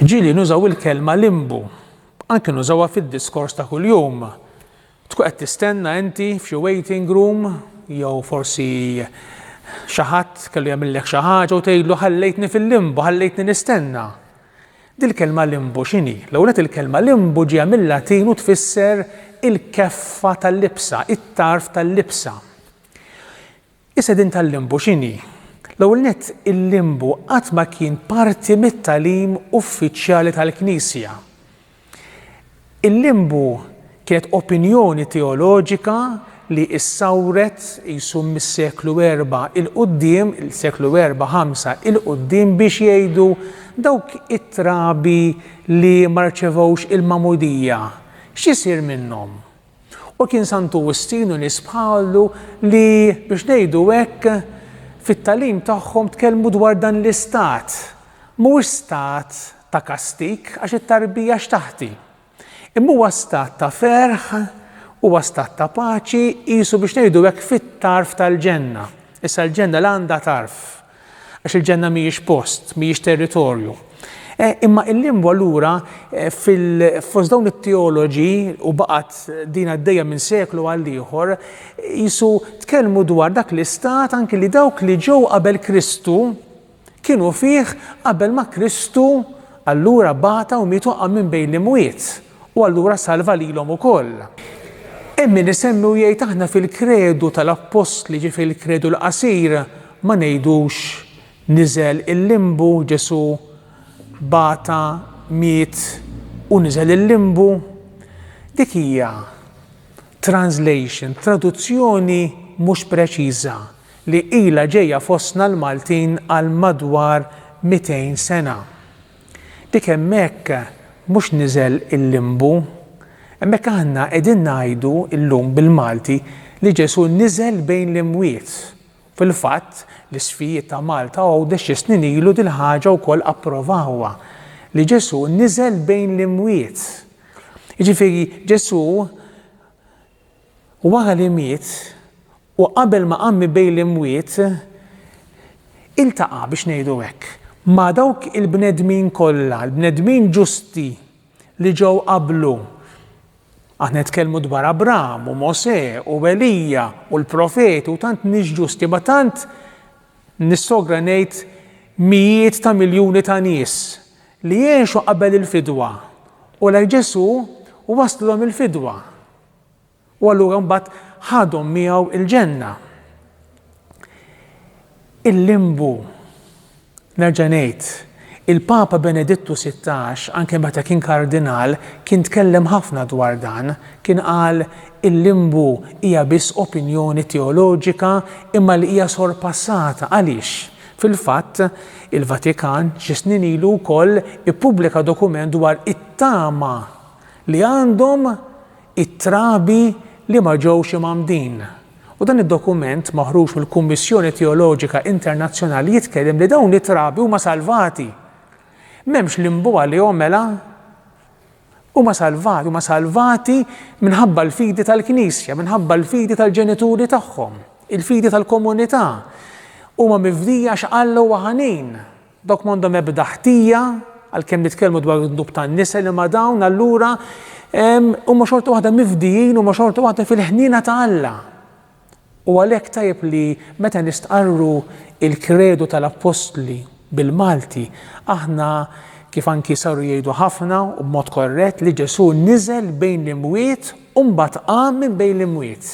Ġili nużaw il-kelma limbu, anke nużawha fid-diskors ta' kuljum. Tkun qed tistenna inti f'xi waiting room jew forsi xi ħadd kellu jagħmillek xi ħaġa u tgħidlu ħallejtni fil-limbu, ħallejtni nistenna. Dil-kelma limbu x'inhi? L-ewwel il-kelma limbu ġie mill-Latin u tfisser il-keffa tal-libsa, it-tarf tal-libsa. Is-sedien tal-limbu x'inhi? L-ewwel nett, il-limbu qatt ma kien parti mit-tagħlim uffiċjali tal-Knisja. Il-limbu kienet opinjoni teoloġika li issawret qisu mis-seklu erba' 'il quddiem, seklu erba', ħamsa 'il quddiem biex jgħidu dawk it-trabi li ma rċevewx il-magħmudija x'isir minnhom? U kien Sant'Uwistinu nies bħalu li, biex ngħidu hekk, fit-tagħlim tagħhom tkellmu dwar dan l-istat. Mhuwiex stat ta' kastig, għax it-tarbija x'taħt hi? Imma huwa stat ta' ferħ, huwa stat ta' paċi, qisu biex ngħidu hekk fit-tarf tal-ġenna. Issa l-ġenna la għandha tarf. Għax il-ġenna mhijiex post, mhijiex territorju. E, imma il-lingwa lura e, fil-fost dawn it-teoloġi u baqgħet din għaddejja minn seklu għal ieħor jisu tkellmu dwar dak l-istat anki li dawk li ġew qabel Kristu kienu fih qabel ma Kristu allura bata u mietu minn bejn l-imwiet. U allura salva lilhom ukoll. Hemm min isemmi u jgħid aħna fil-kredu tal-appostli, ġifieri l-kredu l-qasir, ma ngħidux niżel il-limbu, Ġesù bata, miet u niżel il-limbu. Dik hija translation, traduzzjoni mhux preċiża li ilha ġejja fostna l-Maltin għal madwar mitejn sena. Dik hemmhekk mhux niżel il-limbu. Hemmhekk aħna qegħdin ngħidu llum bil-Malti li Ġesù niżel bejn l-imwiet. Fil-fatt, l-isfijiet ta' Malta Għawdex xi snin ilu dil-ħaġa wkoll approvawha, li Ġesù niżel bejn l-imwiet. Jiġifieri Ġesù Wara li miet, u qabel ma qam mi bejn l-imwiet, iltaqa', biex ngħidu hekk, ma' dawk il-bnedmin kollha, il-bnedmin ġusti li ġew qablu. Aħna nitkellmu dwar Abraham u Mosè u Elija u l-profeti u tant nies ġusti, ma tant Nissogra ngħid mijiet ta' miljuni ta' nies li għexu qabel il-fidwa u lejn Ġesù u wasslilhom il-fidwa u allura mbagħad ħadhom miegħu il-ġenna. Il-limbu, nerġa' ngħid, Il-Papa Benedittu Sittax, anke meta kien Kardinal, kien tkellem ħafna dwar dan. Kien qal, Il-limbu hija biss opinjoni teoloġika imma li hija sorpassata. Għaliex? Fil-fatt, il-Vatikan xi snin ilu wkoll ippubblika dokument dwar it-tama li għandhom it-trabi li ma ġewx imgħammdin, u dan id-dokument maħruġ mill-Kummissjoni Teoloġika Internazzjonali jitkellem li dawn it-trabi huma salvati. M'hemmx limbu għalihom mela? Huma salvati, huma salvati minħabba l-fidi tal-Knisja, minħabba l-fidi tal-ġenituri tagħhom, il-fidi tal-komunità. Huma mifdija x'Alla huwa ħanin. Dawk m'għandhom ebda ħtija, għalkemm nitkellmu dwar id-dnub tan-nisa, li ma' dawn allura huma xorta waħda mifdijin, huma xorta waħda fil-ħniena ta' Alla. U għalhekk tajjeb li meta nistqarru il-kredu tal-appostli bil-Malti, aħna kif anki saru jgħidu ħafna u b'mod korrett li Ġesù niżel bejn l-imwiet u mbagħad qam minn bejn l-imwiet.